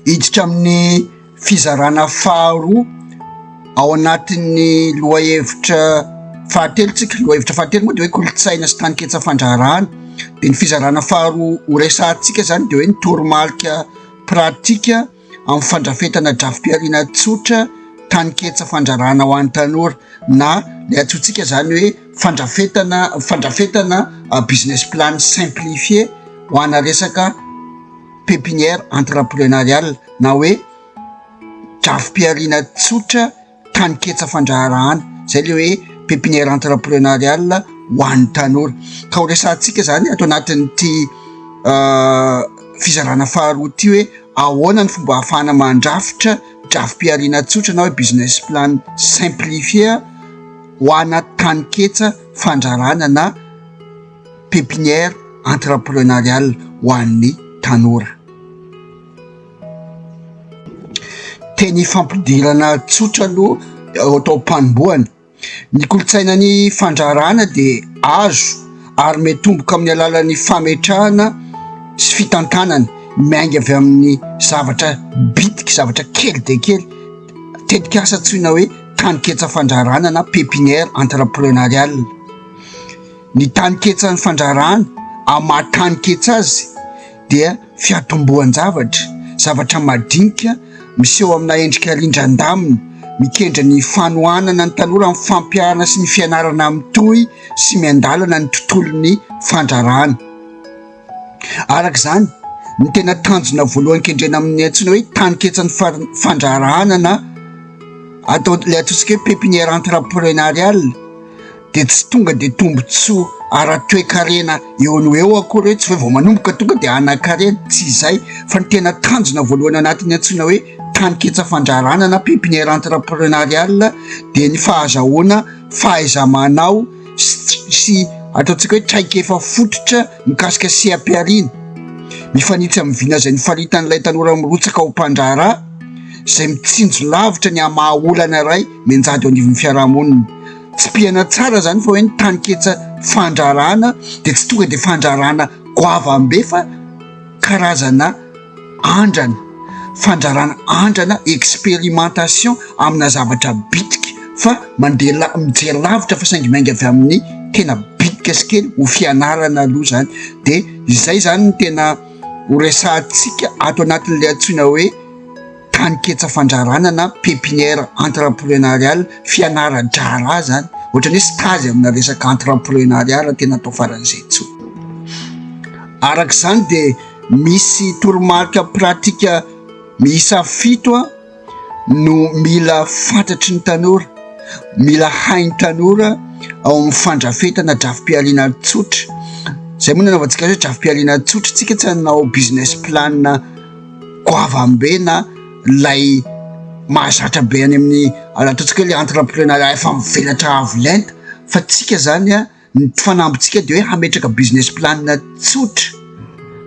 Hiditra amin'ny fizarana faharoa ao anatin'ny lohahevitra fahatelo tsika. Ny lohahevitra fahatelo moa dia hoe kolontsaina sy taninketsa fandraharahana. Dia ny fizarana faharoa ho resahantsika izany dia hoe ny toromarika pratika amin'ny fandrafetana drafi-pihariana tsotra taninketsa fandraharahana ho an'ny tanora na ilay antsointsika izany hoe. Fandrafetana fandrafetana business plan simplifié ho ana resaka pepinière entreprenariale na hoe drafi-pihariana tsotra taninketsa fandraharahana, izay ilay hoe pepinière entreprenariale ho an'ny tanora. Ka ho resahantsika izany ato anatin'ity fizarana faharoa ity hoe ahoana ny fomba ahafahana mandrafitra drafi-pihariana tsotra na hoe business plan simplifié. ho ana taninketsa fandrarana na pepinière entreprenariale ho an'ny tanora. Teny ifampidirana tsotra aloha atao am-panombohana. Ny kolontsainan'ny fandrarana dia azo ary miatomboka amin'ny alalan'ny fametrahana sy fitantanana miainga avy amin'ny zavatra bitika, zavatra kely dia kely. tetikasa antsoina hoe taninketsa fandraharana na pepinière entreprenariale. Ny taninketsan'ny fandraharana amin'ny maha taninketsa azy dia fiatombohan-javatra, zavatra madinika miseho amina endrika rindran-damina, mikendry ny fanohanana ny tanora amin'ny fampiharana sy ny fianarana mitohy sy miandalana ny tontolon'ny fandraharana. Araka izany, ny tena tanjona voalohany kendrena amin'ny antsoina hoe taninketsan'ny fandraharahana na atao ilay ataontsika hoe pépinière entrepreneuriale dia tsy tonga dia tombontsoa ara-toekarena eo no eo akory hoe tsy hoe vao manomboka tonga dia hanan-karena, tsy izay fa ny tena tanjona voalohany anatin'ny antsoina hoe taninketsa fandraharahana na pépinière entrepreneuriale dia ny fahazahoana fahaiza-manao. sy ataontsika hoe traikefa fototra mikasika seha-pihariana. Mifanitsy amin'ny vinazan'ny faritan'ilay tanora mirotsaka ho mpandraharaha izay mitsinjo lavitra ny hamaha olana iray mianjady eo anivon'ny fiarahamonina. Tsipihana tsara izany fa hoe ny taninketsa fandraharahana dia tsy tonga dia fandraharahana goavambe fa karazana. andrana, fandrarana andrana, expérimentation amina zavatra bitika fa mandeha la- mijery lavitra fa saingy miainga avy amin'ny tena bitika sy kely ho fianarana aloha zany de izay zany no tena ho resahantsika ato anatin'le antsoina hoe taninketsa fandrarana na pepinière entreprenariale, fianara-draharaha zany, ohatrany hoe stage amina resaka entreprenariat raha tena atao faran'izay tsotra, arak'izany de. misy toromarika pratika miisa fito no mila fantatry ny tanora, mila hain'ny tanora ao amin'ny fandrafetana drafi-pialina tsotra. Izay moa no nanaovantsika azy hoe drafi-pialina tsotra, isika tsy hanao business plan goavambe na ilay mahazatra be any amin'ny, ataontsika hoe ilay entreprenariat efa mivelatra avo lenta fa isika izany an. Ny tsy fanambintsika dia hoe hametraka business plan tsotra,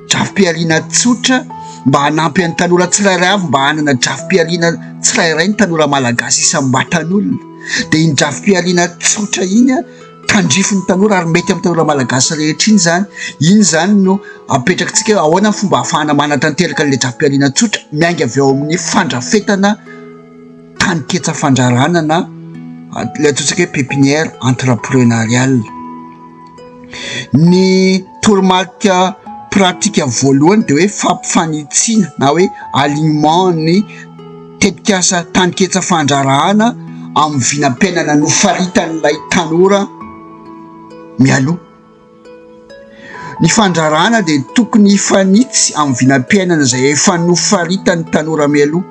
drafi-pihariana tsotra mba hanampy an'ny tanora tsirairay avy mba hanana drafi-pihariana tsirairay ny tanora malagasy isam-batan'olona. Dia iny drafi-pihariana tsotra iny tandrifin'ny tanora ary mety amin'ny tanora malagasy rehetra iny izany. Iny izany no apetrakitsika hoe ahoana ny fomba ahafahana manatanteraka an'ilay drafi-pihariana tsotra miainga avy ao amin'ny fandrafetana. tanin-ketsa fandrarana na ilay antsointsika hoe pepinière entreprenariale. Ny toromarika pratika voalohany dia hoe fampifanitsiana na hoe alignement ny tetikasa tanin-ketsa fandrarahana amin'ny vinam-piainana nofaritan'ilay tanora mialoha. Ny fandrarana dia tokony hifanitsy amin'ny vinam-piainana izay efa nofaritan'ny tanora mialoha.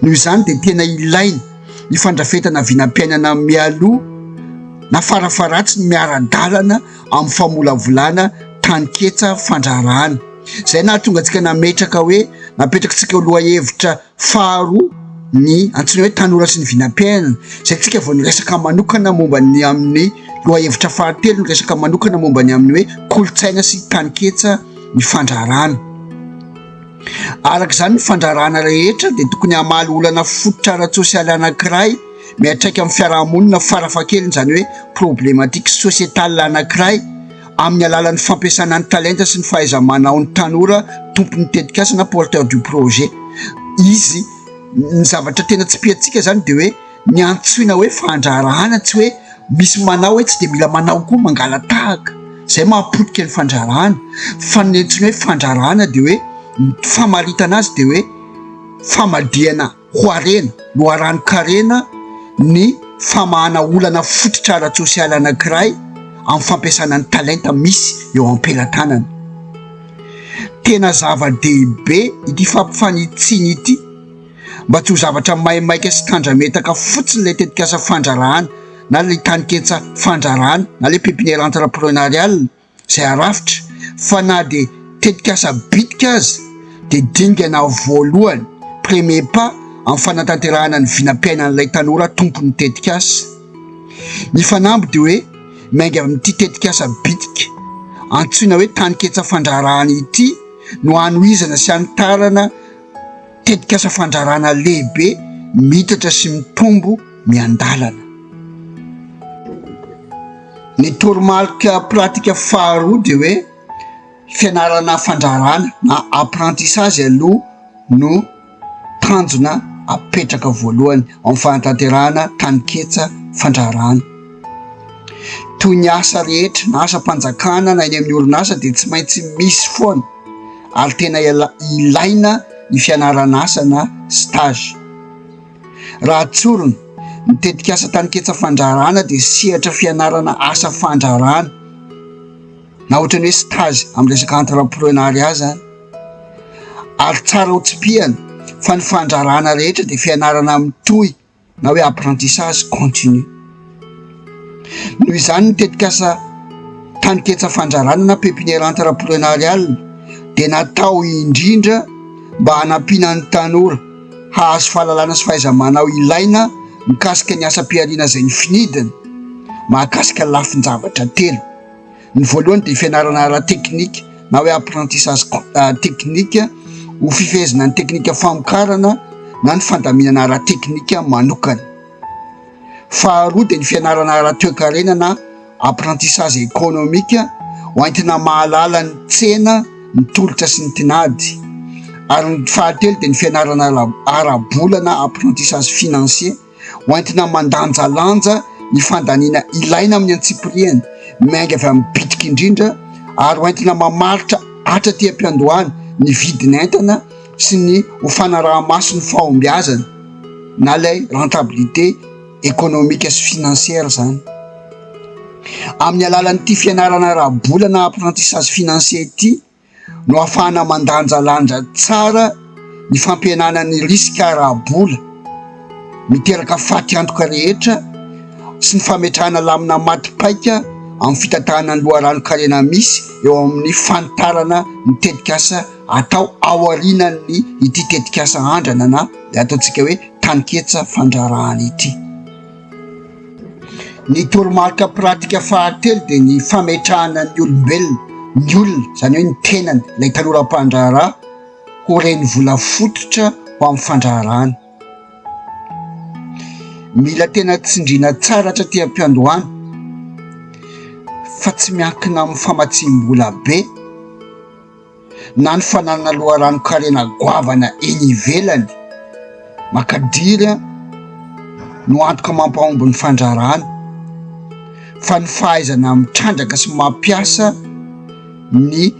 Noho izany dia tena ilaina ny fandrafetana vinam-piainana mialoha na farafaharatsiny miara-dalana amin'ny famolavolana taninketsa fandrarana. Izay nahatonga antsika nametraka hoe, napetraky tsika ho lohahevitra. Faharoa, ny antsoina hoe tanora sy ny vinam-piainana, izay isika vao niresaka manokana momba ny amin'ny lohahevitra fahatelo, niresaka manokana momba ny amin'ny hoe kolontsaina sy taninketsa ny fandraharahana. Araka izany, ny fandraharahana rehetra dia tokony hamaly olana fototra ara-tsosialy anankiray miantraika amin'ny fiarahamonina, farafahakeliny izany hoe problematiques sociétales anankiray, amin'ny alalan'ny fampiasana ny talenta sy ny fahaiza-manaon'ny tanora tompon'ny tetikasa na porteur du projet izy. Ny zavatra tena tsipiantsika izany dia hoe ny antsoina hoe fandraharahana tsy hoe misy manao hoe tsy dia mila manao koa mangalatahaka izay mahapotika ny fandraharahana fa ny antsoina hoe fandraharahana dia hoe ny famaritana azy dia hoe famadihana. ho harena, loharanon-karena ny famahana olana fototra ara-tsosialy anankiray amin'ny fampiasana ny talenta misy eo am-pelatanana. Tena zava-dehibe ity fampifanitsiana ity mba tsy ho zavatra maimaika sy tandrametaka fotsiny ilay tetikasa fandraharahana na ilay taniketsa fandraharahana na ilay pépinière entrepreneuriale, izay arafitra fa na dia tetikasa bitika aza dia dingana voalohany, premier pas, amin'ny fanatanterahana ny vinam-piainan'ilay tanora tompon'ny tetikasa. Ny fanamby dia hoe miainga amin'ity tetikasa bitika antsoina hoe Taninketsa Fandraharahana ity no hanohizana sy hanitarana Tetikasa fandrarana lehibe miitatra sy mitombo miandalana. Ny toromarika pratika faharoa dia hoe fianarana fandrarana na apprentissage aloha no tanjona apetraka voalohany amin'ny fanatanterahana taninketsa fandrarana. Toy ny asa rehetra na asam-panjakana na eny amin'ny orinasa dia tsy maintsy misy foana ary tena ilaina ny fianaran'asa na stage. Raha tsorina, ny tetikasa Taniketsa Fandraharahana dia sehatra fianarana asa fandraharahana na ohatran'ny hoe stage amin'ny resaka entreprenariat izany ary tsara ho tsipihana fa ny fandraharahana rehetra dia fianarana mitohy. na hoe apprentissage continu. Noho izany ny tetikasa Taniketsa Fandrarana na Pépinière Entrepreneuriale dia natao indrindra mba hanampiana ny tanora hahazo fahalalana sy fahaiza-manao ilaina mikasika ny asam-pihariana izay nofinidiny mahakasika lafin-javatra telo. Ny voalohany dia fianarana ara-teknika na hoe apprentissage technique ho fifehezana ny teknika famokarana na ny fandaminana ara-teknika manokana. Faharoa dia ny fianarana ara-toekarena na apprentissage économique ho entina mahalala ny tsena, ny tolotra sy ny tinady. Ary ny fahatelo dia ny fianarana ara-bola na apprentissage financier. ho entina mandanjalanja ny fandaniana ilaina amin'ny antsipirihany miainga avy amin'ny bitika indrindra ary ho entina mamaritra atra aty am-piandohana ny vidin'entana sy ny ho fanaraha-maso ny fahombiazana na ilay rentabilité ekonomika sy finansiera izany. Amin'ny alalan'ity fianarana ara-bola na apprentissage financier ity, no ahafahana mandanjalanja tsara ny fampihenana ny risika ara-bola miteraka faty antoka rehetra sy ny fametrahana lamina maty paika amin'ny fitantanana ny loharanon-karena misy eo amin'ny fanitarana ny tetikasa atao aorianan'ny ity tetikasa andrana na ny ataontsika hoe taninketsa fandrarahana ity. Ny toromarika pratika fahatelo dia ny fametrahana ny olombelona, ny olona, izany hoe ny tenany, ilay tanora mpandraharaha, ho renivola fototra ho amin'ny fandraharahana. Mila tena tsindriana tsara hatraty am-piandohana fa tsy miankina amin'ny famatsiam-bola be. na ny fananana loharanon-karena goavana eny ivelany makadiry no antoka mampahomby ny fandraharahana fa ny fahaizana mitrandraka sy mampiasa ny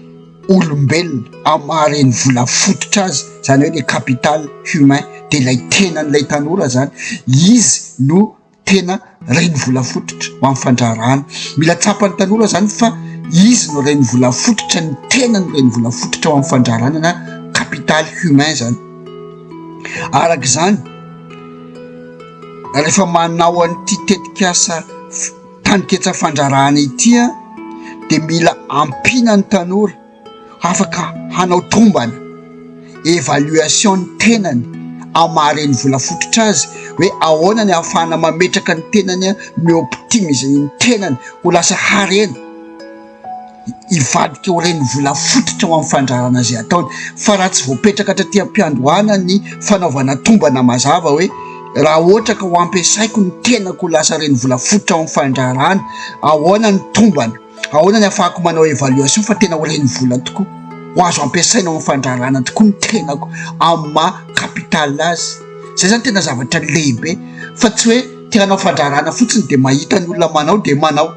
olombelona amin'ny maha renivola fototra azy, izany hoe le capital humain dia ilay tenan'ilay tanora izany, izy no. tena reny volafototra ho amin'ny fandraharahana. Mila tsapan'ny tanora izany fa izy no reny volafototra, ny tenany reny volafototra ho amin'ny fandraharahana na capital humain izany. Araka izany, rehefa manao an'ity tetikasa taninketsa fandraharahana ity dia mila ampiana ny tanora. afaka hanao tombana, évaluation, ny tenany amin'ny maha reny volafototra azy hoe ahoana ny ahafahana mametraka ny tenany mi optimiser ny tenany ho lasa harena hivadika ho reny volafototra ho amin'ny fandrarana izay ataony fa raha tsy voapetraka hatraty am-piandohana ny fanaovana tombana mazava hoe raha ohatra ka ho ampiasaiko ny tenako ho lasa reny volafototra ho amin'ny fandrarana ahoana ny tombana Ahoana ny hafahako manao évaluation fa tena ho renivola tokoa? Ho azo ampiasaina ho fandraharahana tokoa ny tenako amin'ny maha capital azy. Izay izany tena zavatra lehibe fa tsy hoe te hanao fandraharahana fotsiny dia mahita ny olona manao dia manao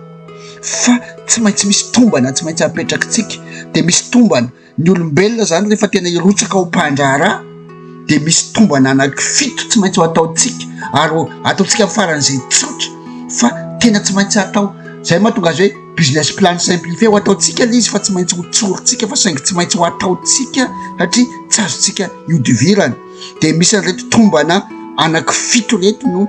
fa tsy maintsy misy tombana tsy maintsy apetrakitsika dia misy tombana. Ny olombelona izany rehefa tena hirotsaka ho mpandraharaha dia misy tombana anaky fito tsy maintsy ho ataontsika ary ataontsika amin'ny faran'izay tsotra fa tena tsy maintsy atao izay mahatonga azy hoe business plan simplifié ho ataontsika ilay izy fa tsy maintsy ho tsorintsika fa saingy tsy maintsy ho ataontsika satria tsy azontsika ihodivirana dia misy an'ireto tombana anaky fito ireto no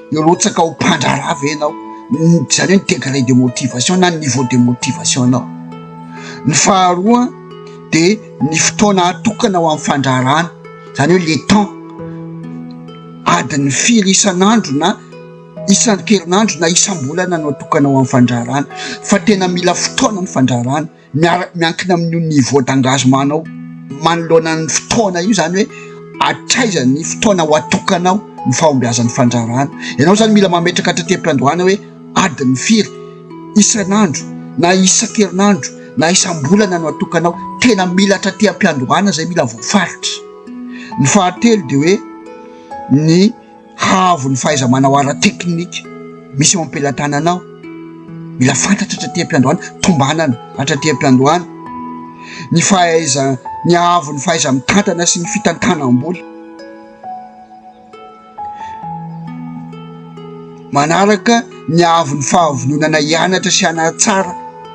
Hirotsaka ho mpandraharaha ve ianao? Izany hoe ny degré de motivation na ny niveau de motivation-nao. Ny faharoa dia ny fotoana atokana ho amin'ny fandraharahana, izany hoe le temps, adiny firy isan'andro na isan-kerinandro na isam-bolana no atokana ho amin'ny fandraharahana fa tena mila fotoana ny fandraharahana. miara- miankina amin'io niveau d'engagement-nao manoloana ny fotoana io, izany hoe hatraiza ny fotoana ho atokanao ny fahombiazan'ny fandrarana. Ianao izany mila mametraka trateim-piandohana hoe adiny firy isan'andro na isan-kerinandro na isam-bolana no atokanao. Tena mila trateam-piandohana izay mila voafaritra. Ny fahatelo dia hoe ny. Haavo ny fahaiza-manao ara-teknika misy eo am-pelatananao. Mila fantatra hatraty am-piandohana, tombanana hatraty am-piandohana ny fahaiza-ny haavo ny fahaiza-mitantana sy ny fitantanam-bola. Manaraka ny haavo ny fahavononana hianatra sy hanatsara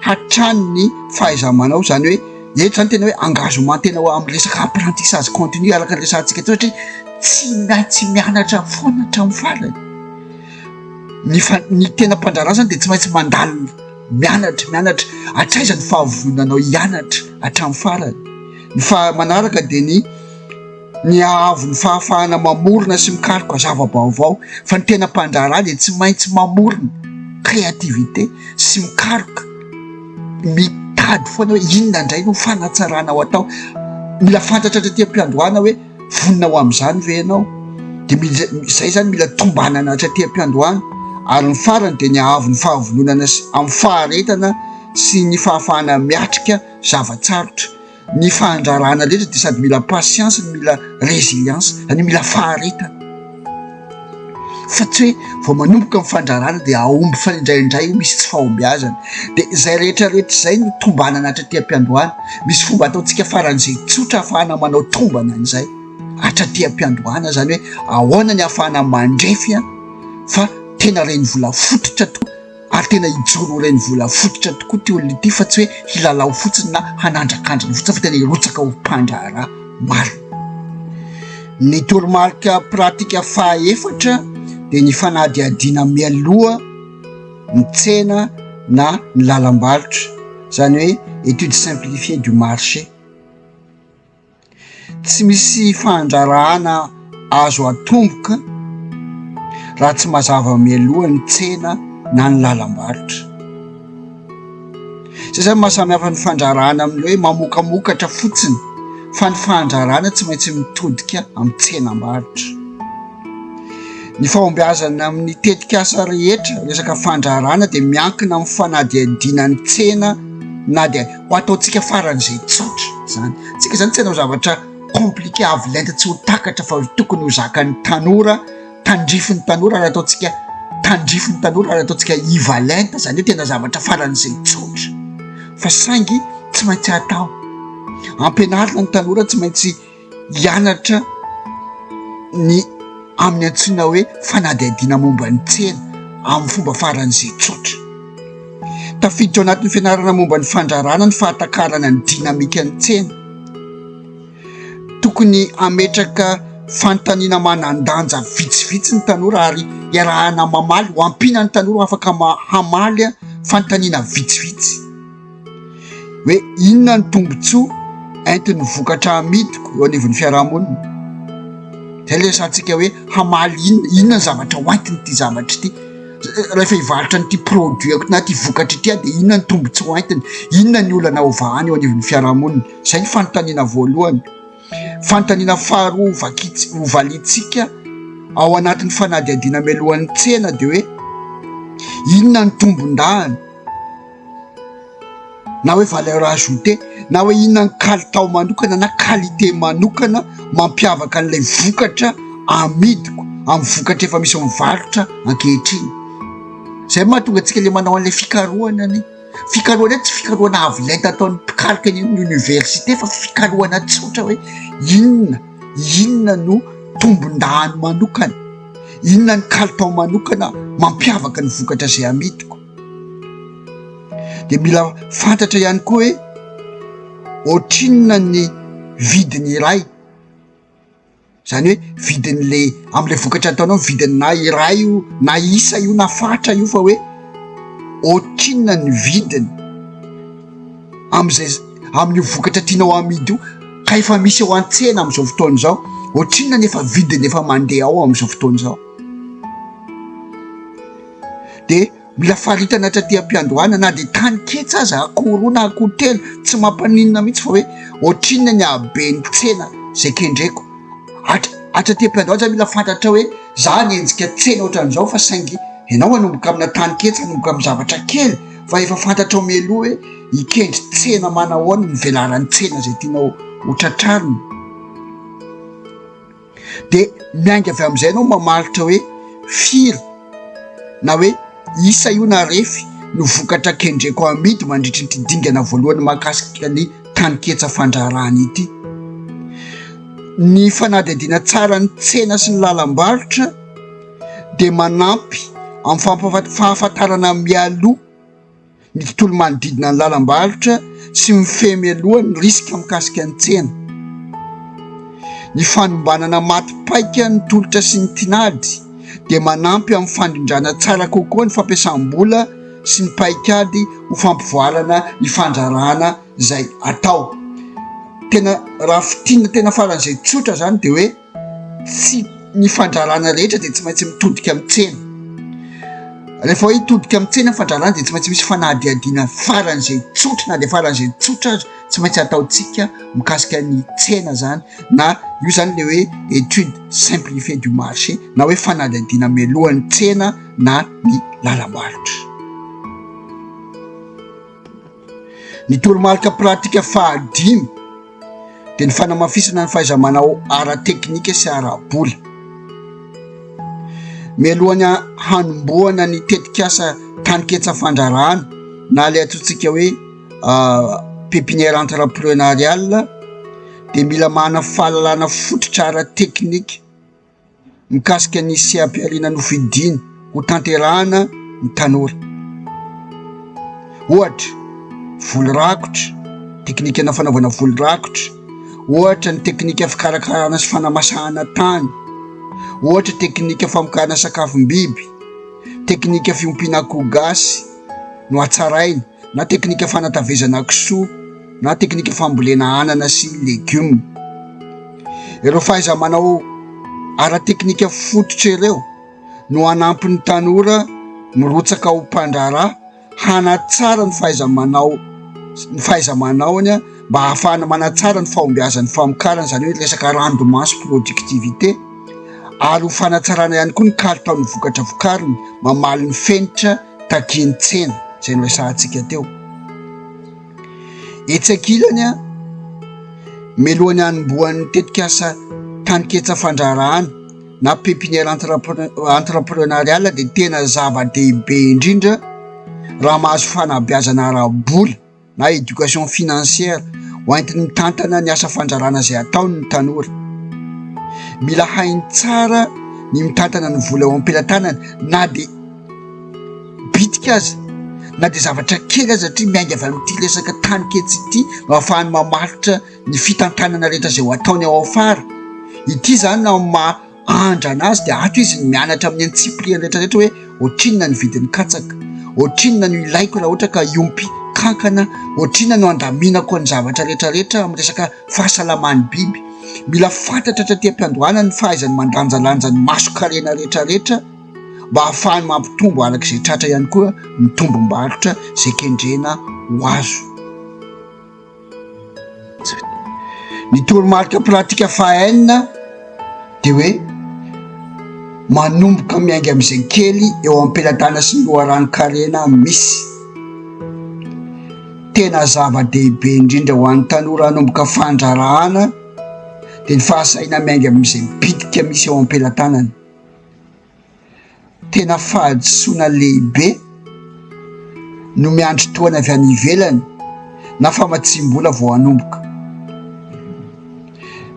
hatrany ny fahaiza-manao, izany hoe. Eto izany tena hoe engagement tena ho amin'ny resaka apprentissage continu araka ny resahantsika teo satria tsy maintsy tsy mianatra foana hatramin'ny farany. Ny fa- ny tena mpandraharaha izany dia tsy maintsy mandalo mianatra mianatra hatraiza ny fahavononanao hianatra hatramin'ny farany. Ny fahamanaraka dia ny ny haavo ny fahafahana mamorona sy mikaroka zava-baovao fa ny tena mpandraharaha dia tsy maintsy mamorona, créativité, sy mikaroka, mitady foana hoe inona indray no fanatsarana ho atao, mila fantatra hatraty am-piandohana hoe vonona ho amin'izany ve ianao, dia mila izay izany mila tombanana hatraty am-piandohana ary ny farany dia ny haavo ny fahavononana sy amin'ny faharetana sy ny fahafahana miatrika zava-tsarotra. Ny fahandrarana rehetra dia sady mila patience no mila résilience, izany hoe mila faharetana. Fa tsy hoe vao manomboka ny fandrarana dia hahomby fa indraindray io misy tsy fahombiazana. Dia izay rehetra rehetra izay no tombanana hatraty am-piandohana. Misy fomba ataontsika faran'izay tsotra ahafahana manao tombana an'izay hatraty am-piandohana, izany hoe ahoana ny ahafahana mandrefy fa tena renivola fototra tokoa. ary tena hijoro ho renivola fototra tokoa ity olona ity fa tsy hoe hilalao fotsiny na hanandrakandrina fotsiny fa tena hirotsaka ho mpandraharaha marina. Ny toromarika pratika fahaefatra dia ny fanadihadiana mialoha ny tsena na ny lalam-barotra, izany hoe étude simplifiée du marché. Tsy misy fandraharahana azo atomboka raha tsy mazava mialoha ny tsena na ny lalam-barotra. Izay izany no maha samy hafa ny fandraharahana amin'ny hoe mamokamokatra fotsiny fa ny fandraharahana tsy maintsy mitodika amin'ny tsenam-barotra. Ny fahombiazana amin'ny tetikasa rehetra resaka fandraharahana dia miankina amin'ny fanadihadiana ny tsena na dia ho ataontsika faran'izay tsotra izany. Tsika izany tsy hanao zavatra compliqué avo lenta tsy ho takatra fa tokony ho zakan'ny tanora, tandrifin'ny tanora ary ataontsika tandrifin'ny tanora ary ataontsika iva lenta izany hoe tena zavatra faran'izay tsotra fa saingy tsy maintsy atao. Ampianarina ny tanora tsy maintsy. hianatra ny amin'ny antsoina hoe fanadihadiana momba ny tsena amin'ny fomba faran'izay tsotra. Tafiditra ao anatin'ny fianarana momba ny fandrarana ny fahatakarana ny dinamikan'ny tsena. Tokony hametraka fanontaniana manan-danja vitsivitsy ny tanora ary iarahana mamaly ho ampiana ny tanora afaka hamaly fanontaniana vitsivitsy. hoe inona ny tombontsoa entin'ny vokatra amidiko eo anivon'ny fiarahamonina. Zay le resahantsika hoe hamaly inona, inona ny zavatra ho entiny ity zavatra ity. Rehefa hivarotra an'ity produit-ko na ity vokatra ity aho dia inona ny tombontsoa ho entiny, inona ny olana ho vahany eo anivon'ny fiarahamonina. Zay ny fanontaniana voalohany. Fanontaniana faharoa vakits- ho valintsika ao anatin'ny fanadihadiana mialohan'ny tsena dia hoe inona ny tombondahany. na hoe valeur ajoutée na hoe inona ny kalitao manokana na qualité manokana mampiavaka an'ilay vokatra amidiko amin'ny vokatra efa misy amin'ny varotra ankehitriny zay no mahatonga antsika le manao an'ilay fikarohana anie fikarohana hoe tsy fikarohana avo lenta ataon'ny mpikaroka eny amin'ny oniversite fa fikarohana tsotra hoe inona inona no tombon-dahany manokana inona ny kalitao manokana mampiavaka ny vokatra izay amidiko dia mila fantatra ihany koa hoe ohatrinona ny vidiny iray zany hoe vidin'le am'le vokatra ataonao vidiny na iray io na isa io na fatra io fa hoe ohatrinona ny vidiny am'izay amin'io vokatra tianao amidy io ka efa misy eo an-tsena am'izao fotoana izao ohatrinona ny efa vidiny efa mandeha ao am'izao fotoana izao dia mila faritana hatraty am-piandohana na dia tany ketsy aza akoho roa na akoho telo tsy mampaninona mihitsy fa hoe ohatrinona ny haben'ny tsena izay kendreko hatr- hatraty am-piandohana zany mila fantatrao hoe za nienjika tsena ohatran'izao fa saingy ianao manomboka amina tany ketsy manomboka amin'ny zavatra kely fa efa fantatrao mialoha hoe hikendry tsena manahoana ny velaran'ny tsena izay tianao ho tratrarina Dia miainga avy amin'izay ianao mamaritra hoe firy na hoe isa io na refy no vokatra kendreko hamidy mandritra ity dingana voalohany mahakasika ny taninketsa fandraharahana ity. Ny fanadihadiana tsara ny tsena sy ny lalam-barotra dia manampy amin'ny fahafantarana mialoha. ny tontolo manodidina ny lalam-barotra sy mifehy mialoha ny risika mikasika ny tsena, ny fanombanana maty paika ny tolotra sy ny tinady dia manampy amin'ny fandrindrana tsara kokoa ny fampiasam-bola sy ny paikady ho fampivoarana ny fandraharahana izay atao. Tena raha fintinina tena faran'izay tsotra izany dia hoe. sy ny fandrarana rehetra dia tsy maintsy mitodika amin'ny tsena. Rehefa hitodika amin'ny tsena ny fandrarana dia tsy maintsy misy fanadihadiana faran'izay tsotra na dia faran'izay tsotra aza tsy maintsy ataontsika mikasika ny tsena zany na io zany le hoe étude simplifiée du marché na hoe fanadihadiana mialohan'ny tsena na ny lalam-barotra. Ny toromarika pratika fahadimy. dia ny fanamafisana ny fahaiza-manao ara-teknika sy ara-bola. Mialohan'ny hanombohana ny tetikasa taniketsa fandrarahana na ilay atontsika hoe ah, pépinière entrepreneuriale dia mila manana fahalalana fototra ara-teknika mikasika ny seha-pihariana nofidiany ho tanterahana ny tanora. Ohatra, voly rakotra, teknikana fanaovana voly rakotra, ohatra ny teknika fikarakarana sy fanamasahana tany, ohatra teknika famokarana sakafom-biby, teknika fiompiana akoho gasy no hatsaraina. na teknika fanatavezana kisoa na teknika fambolena anana sy legioma. Ireo fahaiza-manao ara-teknika fototra ireo no hanampy ny tanora mirotsaka ho mpandraharaha hanatsara ny fahaiza-manao ny fahaiza-manaony mba hahafahana manatsara ny fahombiazan'ny famokarana, izany hoe resaka rendement sy productivité, ary ho fanatsarana ihany koa ny kalitaon'ny vokatra vokariny mamaly ny fenitra. takian'ny tsena izay noresahantsika teo. Etsy ankilany, mialohan'ny hanombohan'ny tetikasa taninketsa fandraharahana na pépinière entrepreneuriale dia tena zava-dehibe indrindra raha mahazo fanabeazana ara-bola. na éducation financière ho entiny mitantana ny asa fandrarana izay ataony ny tanora. Mila hainy tsara ny mitantana ny vola eo am-pelatanany na dia bitika aza na dia zavatra kely aza satria miainga avy amin'ity resaka tany ketsy ity no ahafahany mamaritra ny fitantanana rehetra izay ho ataony ao afara. Ity izany amin'ny maha Andrana azy dia ato izy mianatra amin'ny antsipiriany rehetrarehetra hoe ohatrinona ny vidin'ny katsaka, ohatrinona no ilaiko raha ohatra ka hiompy kankana, ohatrinona no handaminako ny zavatra rehetrarehetra amin'ny resaka fahasalaman'ny biby. Mila fantatra hatraty am-piandohana ny fahaizany mandanjalanja ny mason-karena rehetrarehetra mba hahafahany mampitombo araka izay tratra ihany koa ny tombom-barotra izay kendrena ho azo. Ny toromarika pratika faha enina dia hoe manomboka miainga amin'izay kely eo am-pelatanana sy ny loharanon-karena misy. Tena zava-dehibe indrindra ho an'ny tanora hanomboka fandraharahana dia ny fahasahiana miainga amin'izay bitika misy eo am-pelatanany. Tena fahadisoana lehibe no miandry tohana avy any ivelany na famatsiam-bola vao hanomboka.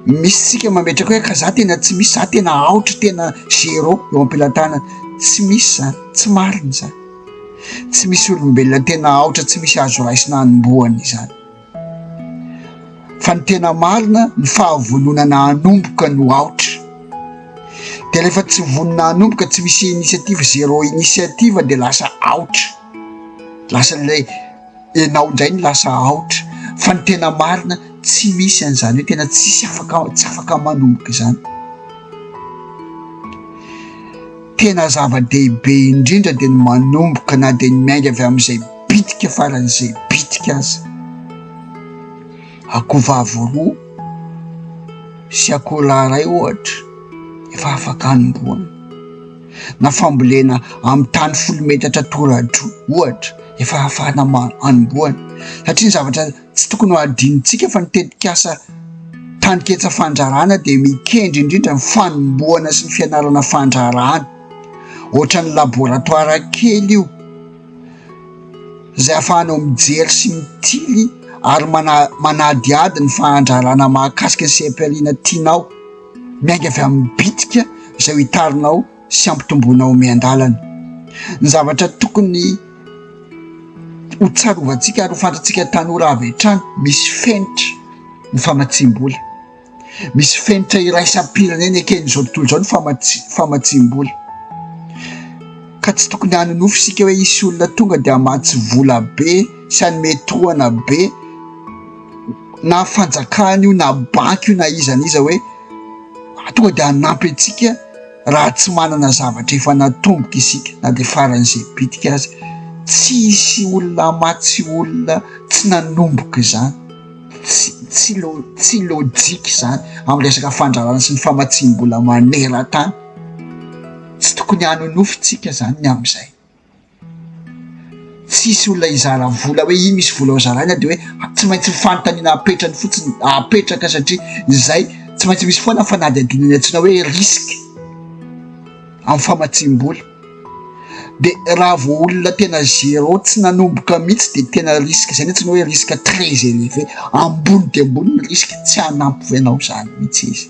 Misy isika mametraka hoe ka za tena tsy misy, za tena aotra, tena zéro eo am-pelatanana. Tsy misy izany, tsy marina izany. Tsy misy olombelona tena aotra, tsy misy azo raisina hanombohana izany. fa ny tena marina ny fahavononana hanomboka no aotra dia rehefa tsy vonona hanomboka tsy misy initiative zero initiative dia lasa aotra lasa ilay enao indray ny lasa aotra fa ny tena marina tsy misy an'izany hoe tena tsisy afaka tsy afaka manomboka izany tena zava-dehibe indrindra dia ny manomboka na dia ny miainga avy amin'izay Bitika faran'izay bitika aza. Akohovavy roa sy akoholahy iray ohatra efa afaka hanombohana, na fambolena amin'ny tany folo metatra toradroa ohatra efa ahafahana hanombohana satria ny zavatra tsy tokony ho adinontsika fa ny tetikasa Taniketsa Fandraharahana dia mikendry indrindra ny fanombohana sy ny fianarana fandraharahana, ohatran'ny laboratoara kely io. izay ahafahanao mijery sy mitily ary manadihady ny fahantrana mahakasika ny seha-pihariana tianao, miainga avy amin'ny bitika izay hotarinao sy hampitomboinao miandalana. Ny zavatra tokony ho tsarovantsika ary ho fantatsika tanora avy hatrany, misy fenitra ny famatsiam-bola. Misy fenitra iraisam-pirenena eken'izao tontolo izao ny famatsiam-bola famatsiam-bola ka tsy tokony hanonofy isika hoe hisy olona tonga dia hamatsy vola be sy hanome tohana be na fanjakana io na banky io na iza na iza hoe tonga dia hanampy antsika raha tsy manana zavatra efa natomboka isika na dia faran'izay bitika aza. Tsy hisy olona hamatsy olona tsy nanomboka izany. tsy lo tsy logique izany amin'ny resaka fandrarana sy ny famatsiam-bola maneran-tany tsy tokony hanonofy tsika zany ny amin'izay tsisy olona hizara vola hoe iny misy vola ho zaraina de hoe tsy maintsy ny fanontaniana apetrany fotsiny apetraka satria izay tsy maintsy misy foana fanadihadiana ny antsoina hoe risque amin'ny famatsiam-bola Dia raha vao olona tena zéro tsy nanomboka mihitsy dia tena risque izay mihitsy ny hoe risque très élevé, ambony dia ambony ny risque, tsy hanampy anao izany mihitsy izy.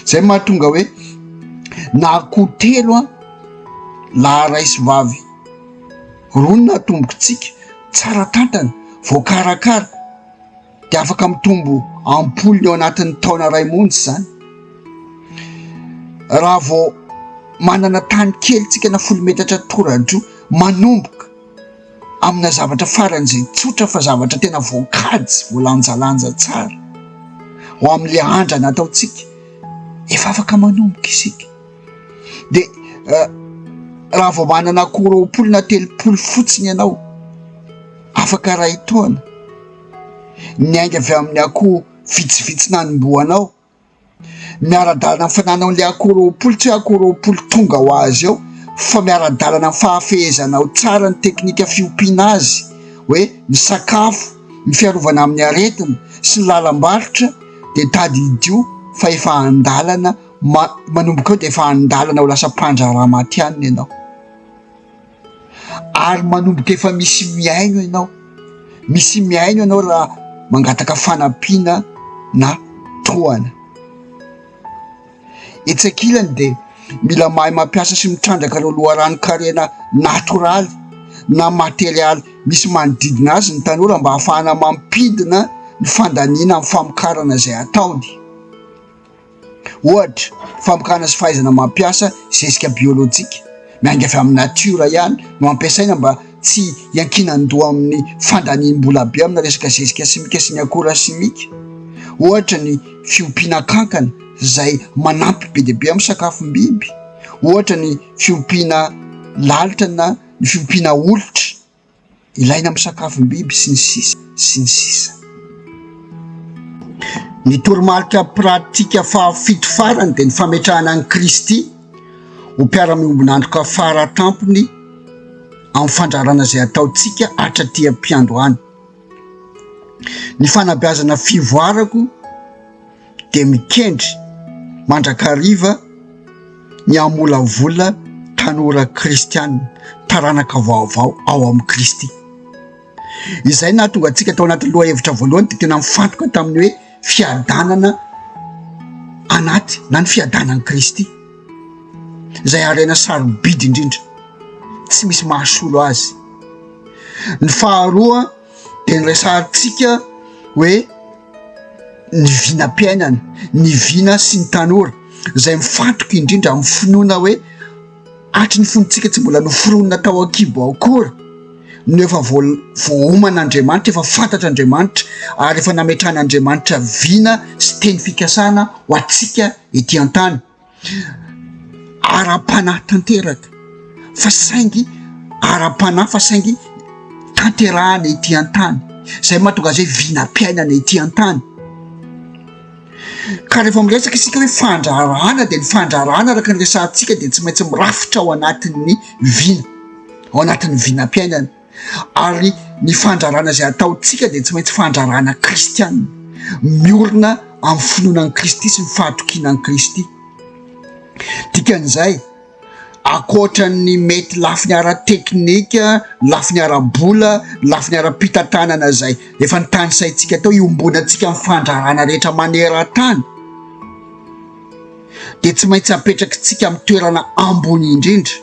Izay no mahatonga hoe na akoho telo an, laharay sy vavy roa no natombokitsika, tsara tantana, voakarakara, dia afaka mitombo am-polony ao anatin'ny taona iray monja izany. Raha vao manana tany kely tsika na folo metatra toradro manomboka amina zavatra farany izay tsotra fa zavatra tena voankajy voalanjalanja tsara ho amin'le andrana ataontsika efa afaka manomboka isika dia eh, raha vao manana akoro ampolona telopolo fotsiny ianao afaka ray taona Niainga avy amin'ny akoho vitsivitsy nanombohanao. Miara-dalana amin'ny fanananao ilay akoho roapolo, tsy hoe akoho roapolo tonga ho azy eo, fa miara-dalana amin'ny fahafehezanao tsara ny teknika fiompiana azy, hoe ny sakafo, ny fiarovana amin'ny aretina sy ny lalam-barotra, dia tadidio fa efa an-dalana, manomboka eo dia efa an-dalana ho lasa mpandraharaha matihanina ianao. ary manomboka efa misy mihaino ianao, misy mihaino ianao raha mangataka fanampiana na tohana. Etsy ankilany dia mila mahay mampiasa sy mitrandraka ireo loharanon-karena natoraly na materialy misy manodidina azy ny tanora mba hahafahana mampidina ny fandaniana amin'ny famokarana izay ataony. Ohatra, famokana sy fahaizana mampiasa zezika biolojika miainga avy amin'ny natiora ihany no ampiasaina mba tsy hiankinan-doha amin'ny fandaniam-bola be amina resaka zezika simika sy ny akora simika, ohatra ny fiompiana kankana izay manampy be dia be amin'ny sakafom-biby, ohatra ny fiompiana lalitra na ny fiompiana olitra. Ilaina amin'ny sakafom-biby sy ny sisa sy ny sisa. Ny toromarika pratika fahafito farany dia ny fametrahana an'i Kristy ho mpiara-miombon'antoka fara tampony amin'ny fandrarana izay ataontsika hatraty am-piandohana. Ny fanabeazana fivoarako. dia mikendry mandrakariva ny hamolavola tanora kristianina, taranaka vaovao ao amin'i Kristy. Izay nahatonga antsika tao anatin'ny lohahevitra voalohany dia tena mifantoka tamin'ny hoe fiadanana anaty na ny fiadanan'i Kristy, izay harena sarobidy indrindra, tsy misy mahasolo azy. Ny faharoa. dia niresahantsika hoe ny vinam-piainana, ny vina sy ny tanora izay mifantoka indrindra amin'ny finoana hoe hatry ny fonontsika tsy mbola noforonina tao an-kibo ao akory no efa voaoman'Andriamanitra, efa fantatr'Andriamanitra ary efa nametrahan'Andriamanitra vina sy teny fikasana ho antsika ety an-tany. ara-panahy tanteraka fa saingy ara-panahy fa saingy tanterahana ety an-tany, izay mahatonga izay vinam-piainana ety an-tany, ka rehefa miresaka isika hoe fandraharahana dia ny fandraharahana araka ny resahantsika dia tsy maintsy mirafitra ao anatin'ny vina, ao anatin'ny vinam-piainana. Ary ny fandrarana izay ataontsika dia tsy maintsy fandrarana kristiana, miorina amin'ny finoana an'i Kristy sy ny fahatokiana an'i Kristy. Dikan'izay, ankoatra ny mety lafiny ara-teknika, lafiny ara-bola, lafiny ara-pitantanana izay efa nitanisaintsika tao iombonantsika amin'ny fandrarana rehetra maneran-tany, dia tsy maintsy apetrakitsika amin'ny toerana ambony indrindra.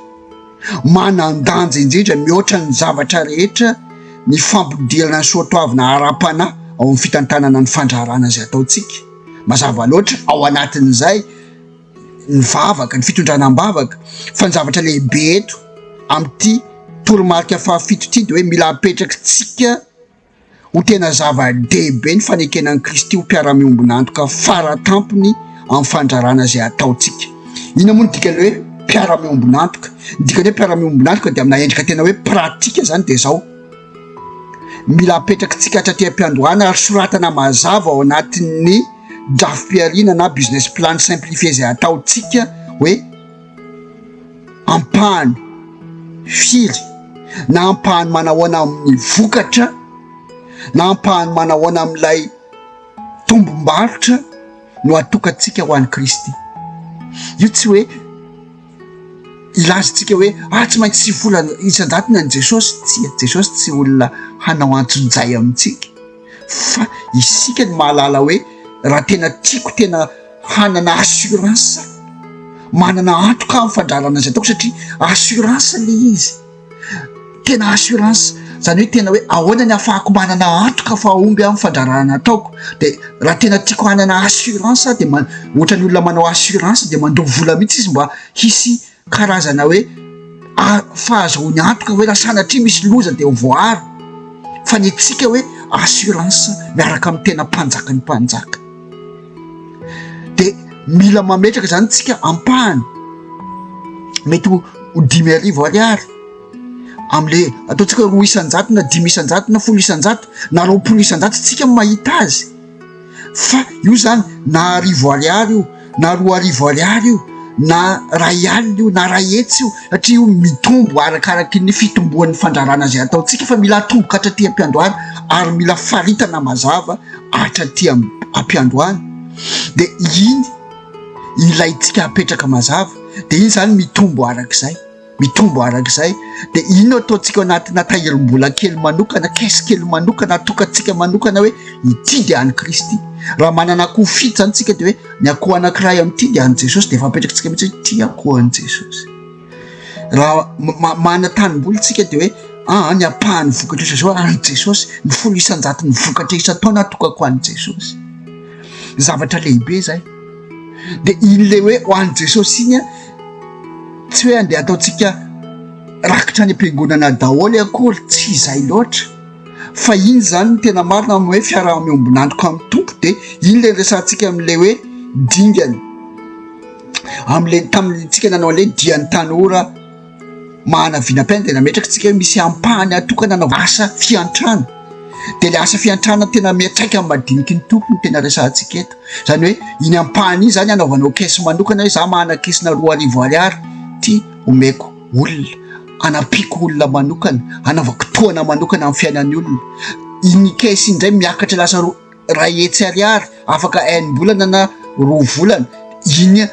Manan-danja indrindra mihoatra ny zavatra rehetra ny fampidirana ny soatoavina ara-panahy ao amin'ny fitantanana ny fandraharahana izay ataontsika. Mazava loatra ao anatin'izay ny vavaka, ny fitondrana am-bavaka, fa ny zavatra lehibe eto amin'ity toromarika fahafito ity dia hoe mila apetrakitsika, Ho tena zava-dehibe ny fanekena an'i Kristy ho mpiara-miombon'antoka fara tampony amin'ny fandrarana izay ataontsika. Inona moa no dikan'ny hoe mpiara-miombon'antoka? Ny dikan'ny hoe mpiara-miombon'antoka dia amina endrika tena hoe pratika izany dia izao, mila apetrakitsika hatraty am-piandohana ary soratana mazava ao anatin'ny drafi-pihariana na business plan simplifié izay ataontsika hoe, ampahany firy na ampahany manahoana amin'ny vokatra na ampahany manahoana amin'ilay tombom-barotra no atokantsika ho an'i Kristy. Io tsy hoe ilazantsika hoe ah tsy maintsy sivy volana isan-jatony an'i Jesosy, tsia, Jesosy tsy olona hanao antsonjay amintsika. fa isika no mahalala hoe raha tena tiako tena hanana assurance manana antoka amin'ny fandrarana izay ataoko satria assurance le izy tena assurance zany hoe tena hoe ahoana ny afahako manana antoka fa omby amin'ny fandrarana ataoko de raha tena tiako hanana assurance de ma- ohatran'ny olona manao assurance de mandoa vola mihitsy izy mba hisy Karazana hoe fahazoany antoka hoe raha sanatria misy loza dia ho voaaro fa ny antsika hoe assurance miaraka amin'ny tena mpanjaka ny mpanjaka dia mila mametraka izany tsika ampahany mety ho ho dimy arivo ariary amle ataontsika roa isanjato na dimy isanjato na folo isanjato na roapolo isanjato tsika mahita azy Fa io zany na arivo ariary io na roa arivo ariary io na ray alina io na ray hetsy io satria io mitombo arakaraky ny fitomboan'ny fandrarana izay ataontsika fa mila atomboka hatraty am-piandohana ary mila faritana mazava hatraty am-piandohana dia iny ilaintsika hapetraka mazava dia iny izany mitombo arak'izay. Mitombo arak'izay dia ino ataontsika anatina tahirim-bola kely manokana, caisse kely manokana atokantsika manokana hoe ity dia an'i Kristy. Raha manana akoho fito izany tsika dia hoe ny akoho anankiray amin'ity dia an'i Jesosy dia efa apetrakantsika mihitsy hoe ity akoho an'i Jesosy. Raha manana tanimboly tsika dia hoe ah, ah ny ampahan'ny vokatra isan zao an'i Jesosy, ny folo isan-jato ny vokatra isan-taona atokako an'i Jesosy. Zavatra lehibe izay. Dia iny le hoe ho an'i Jesosy iny Tsy hoe andeha ataontsika rakitra any am-piangonana daholo akory, tsy izay loatra, fa iny izany no tena marina amin'ny hoe fiaraha-miombon'antoka amin'ny Tompo, dia iny ilay niresahantsika amin'ilay hoe dingana, amin'ilay tamintsika nanao an'ilay dian'ny tanora mahana vinam-piainana, dia nametraka antsika hoe misy ampahany atokana anaovana asa fiantrana. dia ilay asa fiantrana tena miantraika amin'ny madiniky ny Tompo no tena resahantsika eto. Izany hoe iny ampahany iny izany hanaovanao caisse manokana hoe za manana caisse-na roa arivo ariary ity omeko olona, hanampiako olona manokana, hanaovako tohana manokana amin'ny fiainan'ny olona. Iny caisse iny indray miakatra lasa roa Iray hetsy ariary afaka enim-bolana na roa volana, iny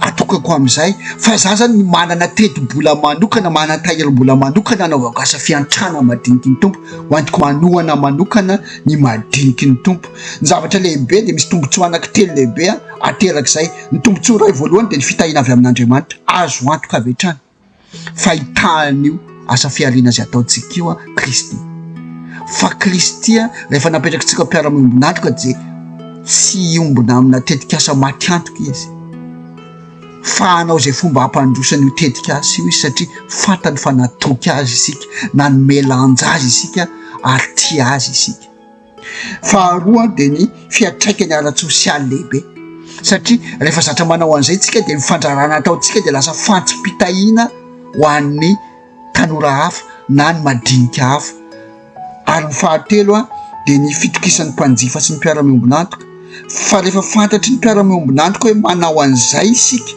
atokako amin'izay fa za zany manana teti-bola manokana, manana tahirim-bola manokana anaovako asa fiantrana madiniky ny Tompo, ho entiko manohana manokana ny madiniky ny Tompo. Ny zavatra lehibe dia misy tombontsoa anankitelo lehibe aterak'izay, ny tombontsoa iray voalohany dia ny fitahiana avy amin'Andriamanitra, azo antoka avy hatrany. fahitàn'io asa fihariana izay ataontsika io an, Kristy. Fa Kristy rehefa napetraka antsika ho mpiara-miombon'antoka dia tsy hiombona amina tetik'asa maty antoka izy, fa hanao izay fomba hampandroso an'io tetik'asa io izy satria fantany fa natoky azy isika, nanome lanja azy isika ary tia azy isika. Faharoa dia ny fiantraikany ara-tsosialy lehibe, satria rehefa zatra manao an'izay isika dia ny fandrarana ataontsika dia lasa fantsipitahiana ho an'ny tanora hafa na ny madinika hafa. Ary ny fahatelo dia ny fitokisan'ny mpanjifa sy ny mpiara-miombon'antoka, fa rehefa fantatry ny mpiara-miombon'antoka hoe manao an'izay isika,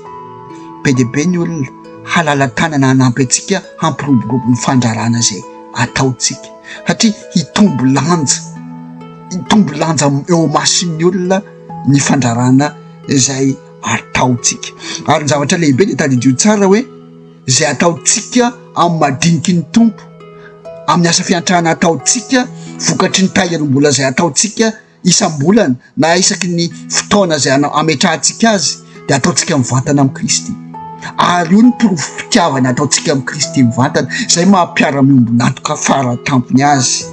be dia be ny olona halala-tanana hanampy antsika hampiroborobo ny fandrarana izay ataontsika. satria hitombo lanja, hitombo lanja eo imason'ny olona ny fandrarana izay ataontsika. Ary ny zavatra lehibe dia tadidio tsara hoe izay ataontsika amin'ny madiniky ny Tompo, amin'ny asa fiantrana ataontsika, vokatry ny tahirim-bola izay ataontsika, isam-bolana na isaky ny fotoana izay ametrahantsika azy dia ataontsika mivantana amin'i Kristy ary io ny porofo fitiavana ataontsika amin'i Kristy mivantana izay maha-mpiara-miombon'antoka fara tampony azy.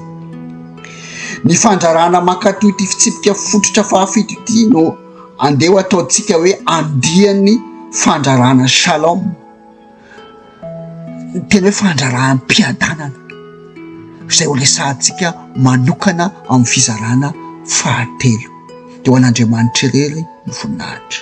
Ny fandrarana mankatò ity fitsipika fototra fahafito ity no andeha ho ataontsika hoe andiany fandrarana shalom. ny tena hoe fandraraham-piadanana izay ho resahantsika manokana amin'ny fizarana fahatelo, dia ho an'Andriamanitra irery ny voninahitra.